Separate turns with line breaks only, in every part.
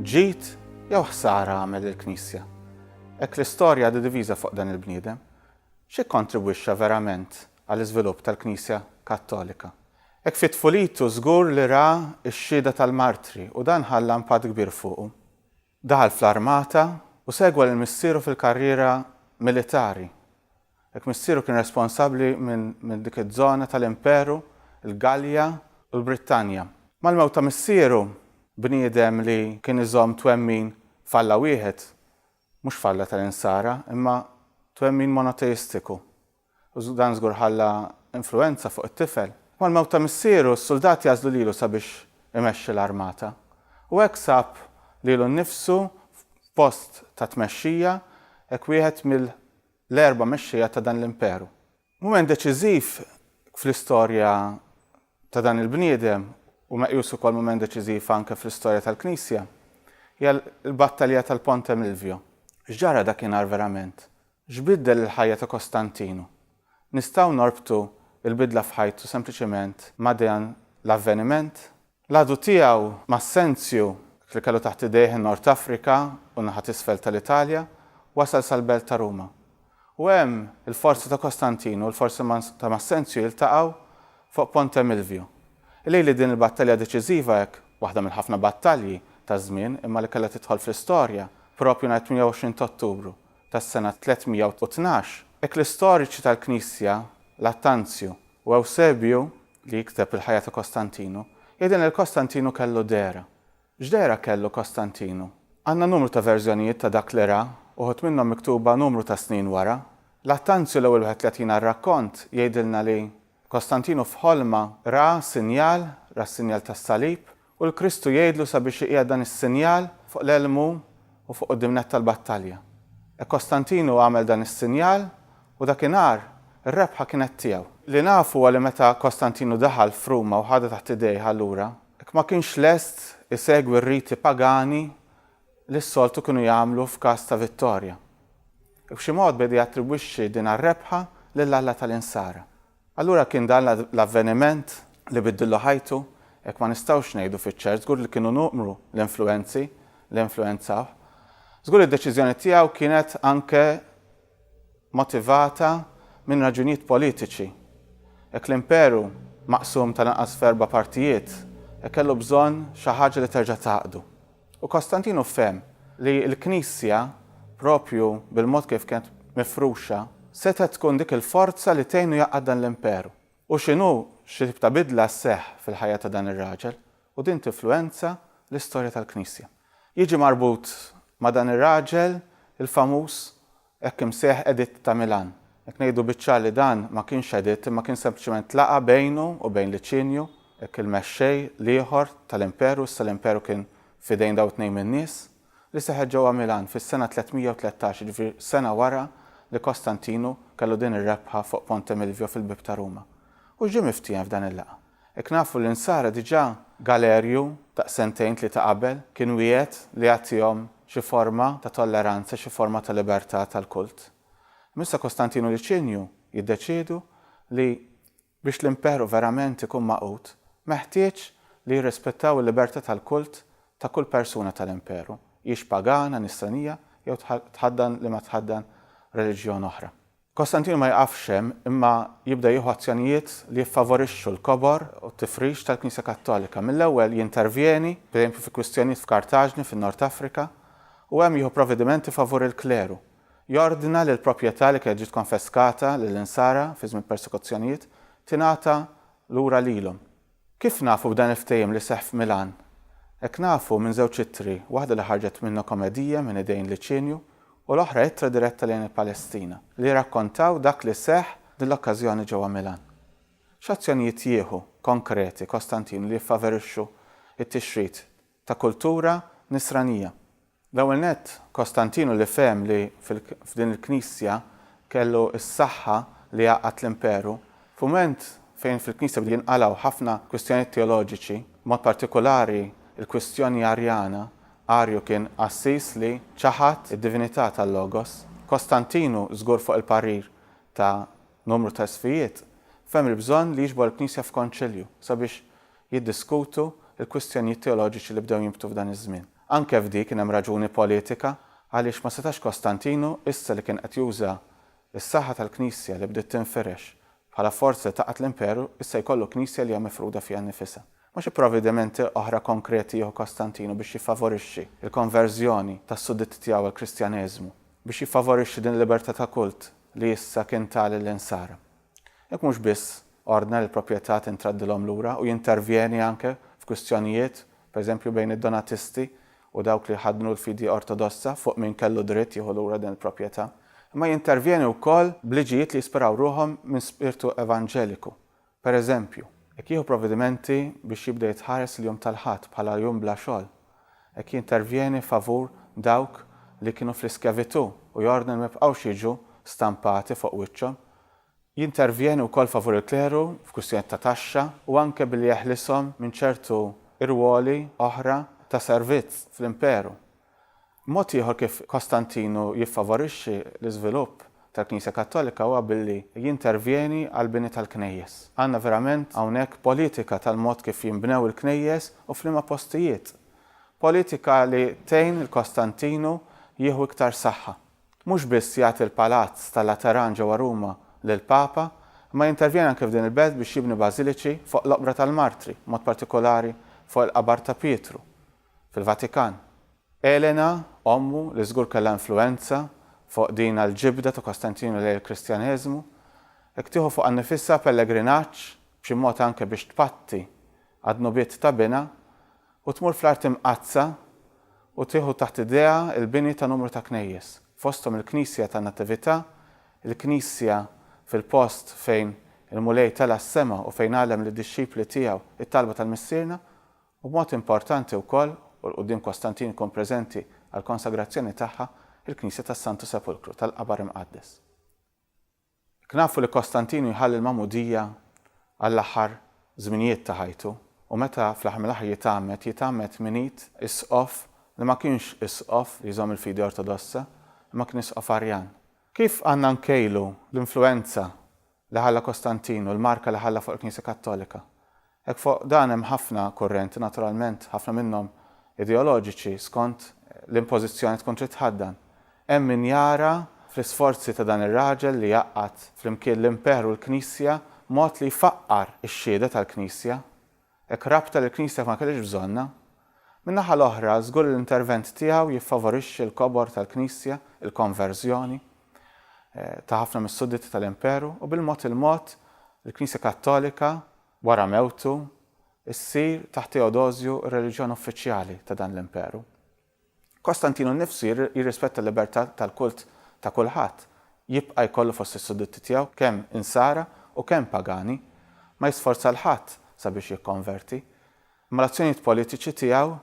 Ġid jew ħsara għamel il-Knisja? Hekk l-istorja għadha diviża fuq dan il-bniedem, x'ikkontribwixxa verament għall-iżvilupp tal-Knisja Kattolika? Hekk fi tfulitu żgur li ra x-xhieda tal-martri u dan ħalla impatt kbir fuqu. Daħal fl-armata u segwa lil missieru fil-karriera militari. Hekk missieru kien responsabbli minn dik iż-żona tal-imperu, il-Gallja u l-Brittanja. Mal-mewt ta' missieru, bniedem li kien iżomm twemmin f'Alla wieħed, mhux f'Alla tal-Insara, imma twemmin monoteistiku, u dan żgur ħalla influwenza fuq it-tifel. Mal-mewt ta' missieru, s-suldati għażlu lilu sabiex imexxi l-armata, u hekk sab lilu nnifsu f'post ta' tmexxija, hekk wieħed l-erba' mexxejja ta' dan l-imperu. Mument deċiżiv fl-istorja ta' dan il-bniedem u meqjus ukoll mument deċiżiv anke fl-istorja tal-Knisja hija l-battalja tal-Ponte Milvio. X'ġara dakinhar verament? X'biddel il-ħajja ta' Kostantinu? Nistgħu norbtu l-bidla f'ħajtu sempliċement ma' dan l-avveniment? L-għadu tiegħu, Massenzju, hekk li kellu taħt idejh in-Nord Afrika u n-naħa t'isfel tal-Italja, wasal sal-belt ta' Ruma. U hemm, il-forzi ta' Kostantinu u l-forzi ta' Massenzju jiltaqgħu fuq Ponte Milvio. Ilili din il-battalja deċiżiva hekk, waħda mill-ħafna battalji taż-żmien imma li kellha tidħol fl-istorja, proprju nhar it-28 t'Ottubru tas-sena 312, hekk li storiċi tal-Knisja, Lattanzju u Ewsebju, li jikteb il-ħajja ta' Kostantinu, hija din li Kostantinu kellu dehra. X'dehra kellu Kostantinu? Għandna numru ta' verżjonijiet ta' dak li ra, uħud minnhom miktuba numru ta' snin wara. L-Attanzju, l-ewwel wieħed li jagħtina r-rakkont, jgħidilna li Kostantinu f'ħolma ra sinjal, ra s-sinjal tas-salib, U l-Kristu jgħidlu sabiex iqiegħed dan is-sinjal fuq l-elmu u fuq quddiemnett tal-battalja. E Kostantinu għamel dan is-sinjal u dakinhar ir-rebħa kienet tiegħu. Li naf huwa li meta Kostantinu daħal f'Ruma u ħadha taħt idejh allura hekk ma kienx lest isegwi r-riti pagani li s-soltu kienu jagħmlu f'każ ta' vittorja. B'xi mod beda jattribwixxi din għar-rebħa lil Alla tal-Insara. Allura kien dan l-avveniment li biddillu ħajtu? Hekk ma nistgħux ngħidu fiċ-ċert. Żgur li kienu nuqmru l-influwenzi li influwenzawh. Żgur li d-deċiżjoni tiegħu kienet anke motivata minn raġunijiet politiċi. Jekk l-Imperu maqsum tal-anqas f'erba' partijiet, hekk kellu bżonn xi ħaġa li terġa' tgħaqqdu. U Kostantinu fehem li l-Knisja, proprju bil-mod kif kienet mifruxa, setgħet tkun dik il-forza li tgħinu jgħaqqad dan l-imperu. U x'inhu, xi tip ta' bidla sseħħ fil-ħajja ta' dan ir-raġel, u din tinfluwenza l-istorja tal-Knisja. Jiġi marbut ma' dan ir-raġel il-famuż Hekk imsejjaħ Editt ta' Milan. Jekk ngħidu biċ-ċar li dan ma kienx editt imma kien sempliċement laqgħa bejnu u bejn Liċinju, hekk il-mexxej l-ieħor tal-Imperu, issa l-Imperu kien f'idejn dawn it-tnejn min-nies, li seħħet ġewwa Milan fis-sena 313, jiġifieri sena wara li Kostantinu kellu din ir-rebħa fuq Ponte Milvio fil-bieb ta' Ruma. U x'ġie miftiehem f'dan il-laqgħa? Hekk nafu li n-Nsara diġà Galerju ta' sentejn tlieta qabel kien wiegħed li jagħtihom xi forma ta' tolleranza, xi forma ta' libertà tal-kult. Imma issa Kostantinu Liċinju jiddeċiedu li biex l-Imperu verament ikun magħqud meħtieġ li jirrispettaw il-libertà tal-kult ta' kull persuna tal-Imperu, hijiex pagana, nisranija jew tħaddan liema tħaddan reliġjon oħra. Kostantinu ma jiqafx hemm imma jibda jieħu azzjonijiet li jiffavorixxu l-kobor u t-tifrix tal-Knisja Kattolika. Mill-ewwel jintervjeni, pereżempju fi kwistjonijiet f'Kartaġni fin-Nord Afrika, u hemm jieħu provvedimenti favur il-kleru. Jordna li l-proprjetà li kienet ġiet konfeskata lill-Insara fi żmien persekuzzjonijiet tingħata lura lilhom. Kif nafu b'dan il-ftehim li seħħ f'Milan? Hekk nafu minn żewġ ittri, waħda li ħarġet minn Nocomedie minn idejn Liċinju u l-oħra ittra diretta lejn il-Palestina, li jirrakkontaw dak li seħħ din l-okkażjoni ġewwa Milan. X'azzjonijiet jieħu, konkreti, Kostantinu li jiffaverixxu t-tixrid ta' kultura Nisranija? L-ewwel nett, Kostantinu li fehem li f'din il-Knisja kellu s-saħħa li jgħaqqad l-Imperu, f'mument fejn fil-Knisja bdew jinqalgħu ħafna kwistjonijiet teoloġiċi, b'mod partikulari l-kwistjoni Arjana, Arju kien qassis li ċaħad id-divinità tal-Logos, Kostantinu, żgur fuq il-parir ta' numru ta' Isqfijiet, fehem il-bżonn li jiġbor il-Knisja f'Konċilju sabiex jiddiskutu l-kwistjonijiet teoloġiċi li bdew jinbtu f'dan iż-żmien. Anke f'di kien hemm raġuni politika għaliex ma setax Kostantinu, issa li kien qed juża s-saħħa tal-Knisja li bdiet tinfirex bħala forza li tgħaqqad l-imperu, issa jkollu Knisja li hija mifruda fiha nnifisha. Ma xi provvedimenti oħra konkreti jieħu Kostantinu biex jiffavorixxi l-konverżjoni tas-sudditti tiegħu għall-Kristjaneżmu, biex jiffavorixxi din il-libertà ta' kult li issa kien ta lill-insara? Hekk mhux biss ordna li l-proprjetà tintradilhom lura u jintervjeni anke f'kwistjonijiet, pereżempju bejn id-Donatisti u dawk li jħaddnu l-fidi Ortodossa fuq min kellu dritt jieħu lura din il-proprjetà, imma jintervjeni wkoll b'liġijiet li jispiraw ruħhom minn spirtu evanġeliku. Pereżempju, jekk jieħu provvedimenti biex jibda jitħares il-jum tal-Ħadd bħala jum bla xogħol. Hekk jintervjeni favur dawk li kienu fl-iskjavitù u jordna li ma jibqgħux jiġu stampati fuq wiċċhom. Jintervjeni wkoll favur il-kleru f'kwistjonijiet ta' taxxa u anke billi jeħlishom minn ċertu irwoli oħra ta' servizz fl-imperu. Mod ieħor kif Kostantinu jiffavorixxi l-iżvilupp tal-Knisja Kattolika huwa billi jintervjeni għall-bini tal-knejjes. Għandna verament hawnhekk politika tal-mod kif jinbnew il-knejjes u f'liema postijiet. Politika li tgħin lil Kostantinu jieħu iktar saħħa. Mhux biss jagħti l-palazz tal-Lateran ġewwa Ruma lill-Papa, imma jintervjeni anke f'din il-belt biex jibni bażiliċi fuq l-oqbra tal-martri, b'mod partikolari fuq il-qabar ta' Pietru. fil-Vatikan. Elena, ommu, li żgur kellha influwenza fuq din l-ġibda ta' Kostantinu lejn il-Kristjaneżmu, hekk tieħu fuqha nnifisha pellegrinaġġ, b'xi mod anke biex tpatti għad-dnubiet ta' binha, u tmur fl-Art Imqaddsa u tieħu taħt idejha l-bini ta' numru ta' knejjes, fosthom il-Knisja tan-Natività, il-Knisja fil-post fejn il-Mulej tela' s-sema u fejn għallem lid-dixxipli tiegħu t-talba tal-Missierna, U b'mod importanti wkoll, u 'l quddiem Kostantin ikun preżenti għall-konsagrazzjoni tagħha, il-Knisja tas-Santu Sepulkru, tal-Qabar Imqaddes. Jekk nafu li Kostantinu jħalli l-magħmudija għall-aħħar żminijiet ta' ħajtu, u meta fl-aħħar mill-aħħar jitgħammed, jitgħammed minn id Isqof li ma kienx Isqof li jżomm il-fidi Ortodossa, imma kien Isqof Arjan. Kif għandna nkejlu l-influwenza li ħalla Kostantinu, l-marka li ħalla fuq il-Knisja Kattolika. Hekk fuq dan hemm ħafna kurrenti, naturalment, ħafna minnhom ideoloġiċi, skont li impożizzjoni tkun trid tħaddan. Hemm min jara fl-isforzi ta' dan ir-raġel li jgħaqqad flimkien l-Imperu l-Knisja mod li jfaqqar ix-Xhieda tal-Knisja, Hekk rabta li l-Knisja ma kellhiex bżonnha. Min-naħa l-oħra, żgur li l-intervent tiegħu jiffavorixxi l-kobor tal-Knisja, il-konverżjoni ta' ħafna mis-sudditti tal-Imperu, u bil-mod il-mod il-Knisja Kattolika, wara mewtu, issir, taħt Teodosju, ir-reliġjon uffiċjali ta' dan l-Imperu. Kostantinu nnifsu jirrispetta l-libertà tal-kult ta' kulħadd, jibqa' jkollu fost is-sudditti tiegħu kemm Insara u kemm pagani, ma jisforza 'l ħadd sabiex jikkonverti. Imma l-azzjonijiet politiċi tiegħu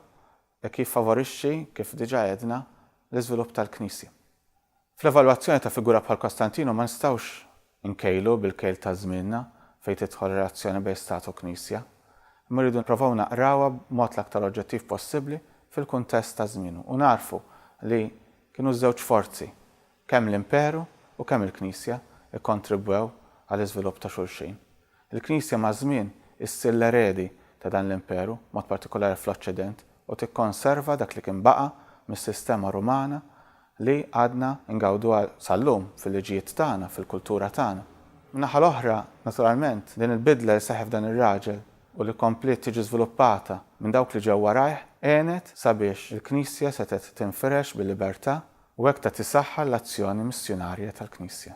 hekk jiffavorixxi, kif diġà għedna, l-iżvilupp tal-Knisja. Fl-evalwazzjoni ta' figura bħal Kostantinu ma nistgħux inkejlu bil-kejl ta' żmienna fejn tidħol relazzjoni bejn Stat u Knisja, imma rridu nipprovaw naqrawha b'mod l-aktar oġġettiv possibbli fil-kuntest ta' żmienu u nagħrfu li kienu ż-żewġ forzi, kemm l-Imperu u kemm il-Knisja, ikkontribwew għall-iżvilupp ta' xulxin. Il-Knisja maż-żmien issir l-eredi ta' dan l-imperu, b'mod partikolari fl-Oċċident, u tikkonserva dak li kien baqa' mis-sistema Rumana li għadna ngawduha sal-lum fil-liġijiet tagħna, fil-kultura tagħna. Min-naħa l-oħra, naturalment, din il-bidla li seħħet f'dan ir-raġel u li kompliet tiġi żviluppata minn dawk li ġew warajh għenet sabiex il-Knisja setgħet tinfirex bil-libertà u hekk tat is-saħħa l-azzjoni missjunarja tal-Knisja.